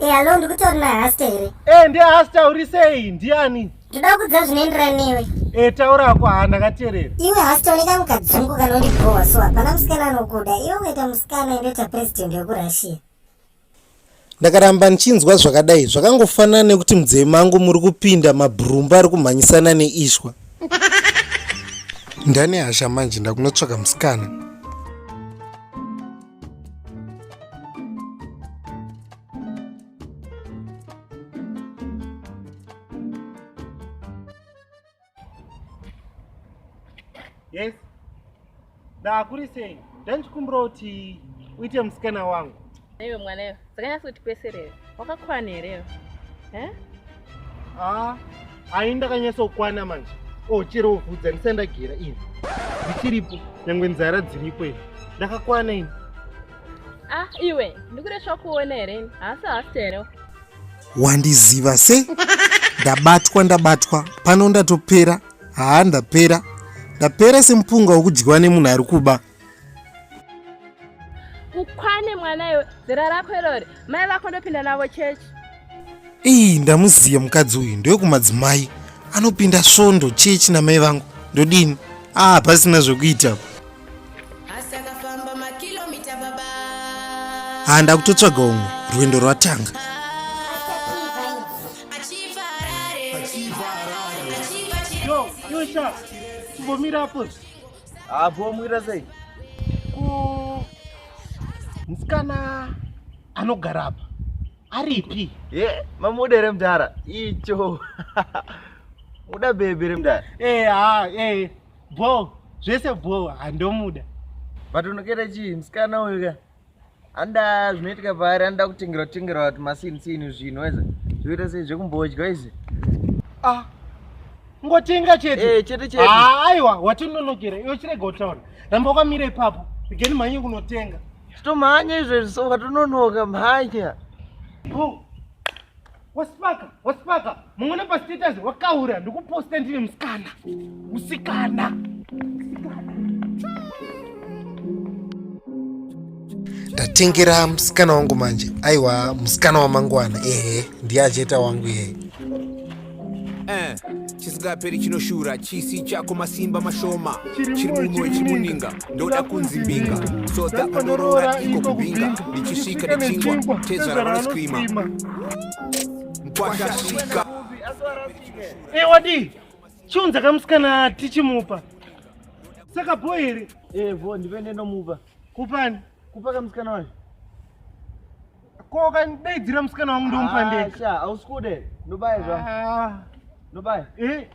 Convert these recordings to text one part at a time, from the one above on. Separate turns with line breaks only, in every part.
Eh, alo ndikutori nahasta here e ndiye hasta uri
sei ndiani ndoda kudza zvinoenderana
newe e taura ako haa
ndakateerera iwe hasta une kamwe
kadzungu kanondibhowa so hapana musikana anokuda iwe ukaita musikana indoita president wekurussia
Ndakaramba ndichinzwa zvakadai zvakangofanana nekuti mudzei mangu muri kupinda mabhurumba ari kumhanyisana neishwa. Ndane hasha manje ndakunotsvaka musikana.
yes da kuri sei ndanchikumbira kuti uite musikana wangu iwe mwana iwe
dzakanyasa kuti kwese reve wakakwana here eh? ah,
ai ndakanyasa kukwana manje o oh, chero vhudza ndisandagira ini ndichiripo nyangwe nzara dziripo ini ndakakwana ini ah
iwe ndikuresva kuona here haasi hasi here wandiziva
se ndabatwa ndabatwa pano ndatopera haa ndapera ndapera semupunga wokudyiwa nemunhu ari kuba
ukwane mwana iwe zera rako irori mai vako ndopinda navo chechi iyi
ndamuziva mukadzi uyu ndewekumadzimai anopinda svondo chechi namai vangu ndodini aa ah, pasina zvekuita haa ndakutotsvaga umwe rwendo rwatanga
kumbomirapo hapo
wamwira sei ku
musikana anogara apa aripi ye mamuda
re mdara icho uda bebe re mdara eh ha eh bho
zvese bho handomuda vatonokera
chii musikana uyu ka anda zvinoitika paari anoda kutengerwa tengerwa vati masinisini zvinhu weza zvoita sei zvekumbodya izi ah
ngotenga chete eh, chete chete ah, aiwa watinonokera iwe chirega kutaura ramba wakamira ipapo igeni mhanye kunotenga chitomhanya izvezvi
so ukatononoka mhanya
Waspaka, waspaka. Mungona pa status wakaura ndikuposta ndine musikana. Musikana.
Tatengera musikana wangu manje. Aiwa, musikana wamangwana. Ehe, ndiye ajeta wangu yeye. Eh.
chisingaperi chinoshura chisi chako masimba mashoma chiri mumwe chimuninga ndoda kunzi mbinga soda pandoroora iko kubinga ndichisvika nechingwa tezvara vanoskrima mkwashasvika ewadi eh,
chiunza kamusikana tichimupa saka bho here evo eh, ndive nenomupa
kupani
kupa kamusikana
wacho
ko kandidaidzira musikana wangu ndomupa ndega hausi kude ndobaya
zva ah. ndobaya eh?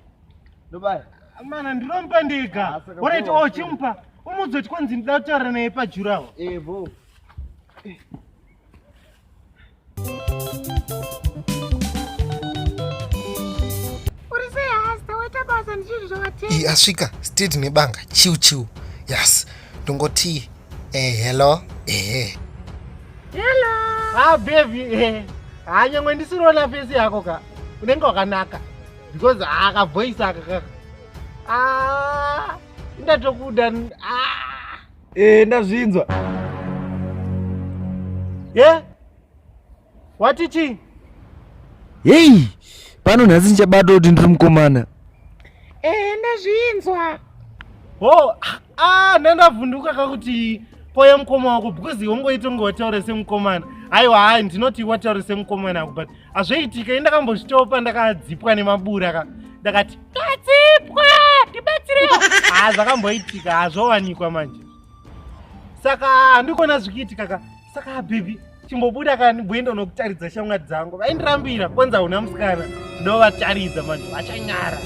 ndobaya mana
ndinomupa ndega ah, oraiti o oh, chimupa umudzoti kwanzi ndida kutaura naye pajurawo evo eh,
iyi asvika street
nebanga chiu chiu yes ndongoti eh, hello ehe hello
ah baby eh hanyangwe ndisiroona face yako ka unenge wakanaka because akavoice aka ka ah ndatokuda ah Eh,
ndazvinzwa.
Yeah? Wati chi? Hey,
pano nhasi ndichabata kuti ndiri mukomana. Eh, ndazvinzwa.
Oh, ah,
ndandavhunduka kakuti poya mukoma wako because wongoita kunge wataura semukomana aiwa hai ndinoti wataura semukomana ako but hazvoitika i ndakambozvitopa ndakadzipwa nemabura ka ndakati Kadzipwa, ndibatsirewo. Ah, zvakamboitika hazvowanikwa manje. Saka handikona zvikiitika ka. Saka baby, chimbobuda kani bwendo nokutaridza shamwari dzangu. Vaindirambira kwanza una musikana. Ndovataridza manje vachanyara.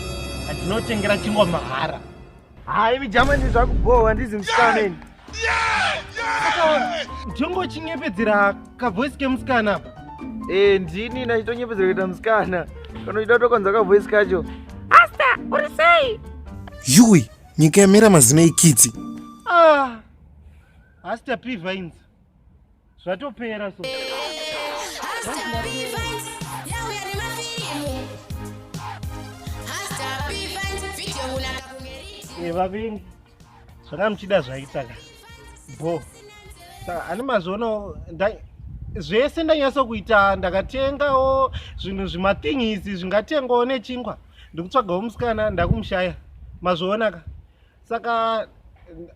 Handinotengera chingwa mahara. Haa imi
jamani zvakubhowa handizi musikana ini.
Jongo chinyepedzera kavoice kemusikana apa. Eh ndini
nachitonyepedzera kuita musikana. Kana uchida kutokonza kavoice kacho. Asta
uri sei? Yui
nyika yamera mazino ikitsi. Ah.
Asta P Vines. zvatopera so eh, vavengi zvanga muchida zvaitaka
bo
saka ani mazviono zvese ndanyasa kuita ndakatengawo zvinhu zvimathingisi zvingatengwawo nechingwa ndikutsvagawo musikana ndakumushaya mazvionaka saka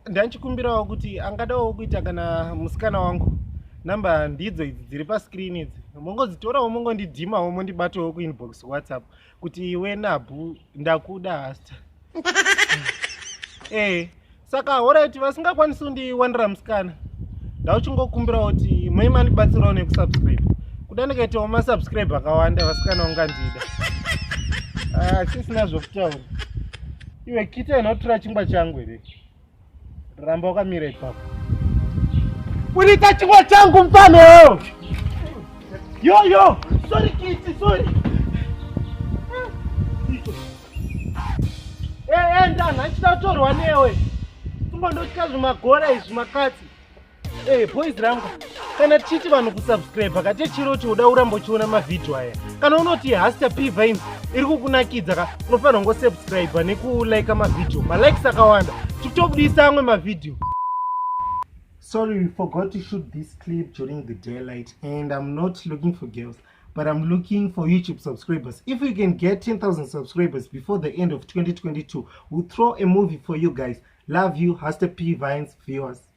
ndanchikumbirawo kuti angadawo kuita kana musikana wangu number ndidzo idzi dziri pascreen idzi mongodzitorawo mongondidhimawo mondibatawo kuinbox whatsapp kuti iwe nabhu ndakuda hasta ee saka horaiti vasingakwanisi kundiwanira musikana ndauchingokumbirawo kuti mai mandibatsirawo nekusubscribe kuda ndikaitawo masubscribe akawanda vasikana ungandida ah, sisina zvokutaura iwe kite unotora chingwa changu here ramba wakamira ipapo unoita chingwa changu mfano yoyo sorry kiti sorry enda eh, eh, ndana achida kutorwa newe tumbo ndotya zvimagora izvi makatsi Hey, eh, boys rangu kana tichiti vanhu kusubscribe kate chiro chioda urambo chiona mavhidhiyo aya kana unoti haster p vines iri kukunakidza ka unofanira kungosubscribe nekulika mavhidhiyo malikes akawanda tikutobudisa amwe mavhidhiyo sorry we forgot to shoot this clip during the daylight and i'm not looking for girls but i'm looking for youtube subscribers if you can get 10000 subscribers before the end of 2022 we'll throw a movie for you guys love you haster p vines viewers